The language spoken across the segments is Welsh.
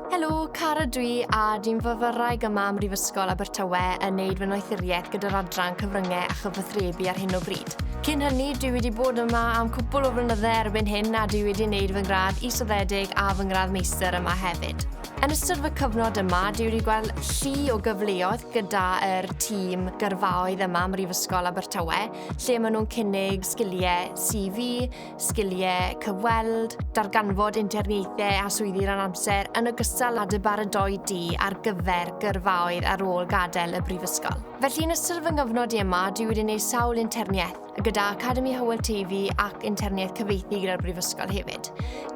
Helo, Cara dw i a dwi'n fyfyrwraig yma ym Mhrifysgol Abertawe yn wneud fy noethuriaeth gyda'r adran cyfryngau a chyfathrebu ar hyn o bryd. Cyn hynny, dwi wedi bod yma am cwpl o flynydde erbyn hyn a dwi wedi wneud fy ngradd isoddedig a fy ngradd meistr yma hefyd. Yn ystod fy cyfnod yma, dwi wedi gweld llu o gyfleoedd gyda'r tîm gyrfaoedd yma ym Mhrifysgol Abertawe, lle maen nhw'n cynnig sgiliau CV, sgiliau cyfweld, darganfod interniaethau a swyddi ran amser yn ogystal â dy baradoi di ar gyfer gyrfaoedd ar ôl gadael y brifysgol. Felly yn ystod fy nghyfnod i yma, dwi wedi gwneud sawl interniaeth, gyda Academi Hywel TV ac interniaeth cyfeithi gyda'r brifysgol hefyd.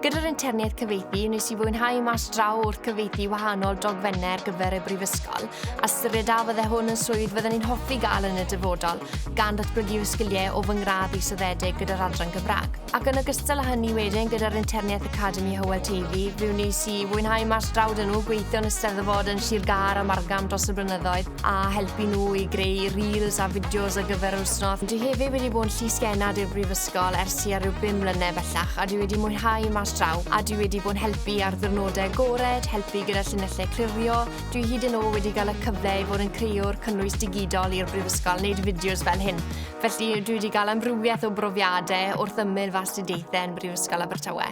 Gyda'r interniaeth cyfeithi, wnes i fwynhau mas draw wrth cyfeithi wahanol dogfennau ar gyfer y brifysgol, a syriedaf fydde hwn yn swydd fydden i'n hoffi gael yn y dyfodol, gan ddatblygu fy sgiliau o fy ngradd israddedig gyda'r adran Gymraeg. Ac yn ogystal â hynny wedyn, gyda'r Interniaeth Academi Hywel Teifi, fe wnes i fwynhau mas draw dyn nhw, gweithio yn Eisteddfod yn Sir Gâr a Margam dros y blynyddoedd, a helpu nhw i greu reels a fideos ar gyfer yr wythnos. Dwi hefyd wedi bod yn llysgennad i'r Brifysgol ers tua rhyw bum mlynedd bellach, a dwi wedi mwynhau mas draw, a dwi wedi bod yn helpu ar ddiwrnodau agored, helpu gyda llinellau clirio, Dwi hyd yn ôl wedi cael y cyfle i fod yn creuwr cynnwys digidol i'r Brifysgol, neud fideos fel hyn. Felly, dwi wedi cael amrywiaeth o brofiadau wrth ymyl fy astudiaethau yn Brifysgol Abertawe.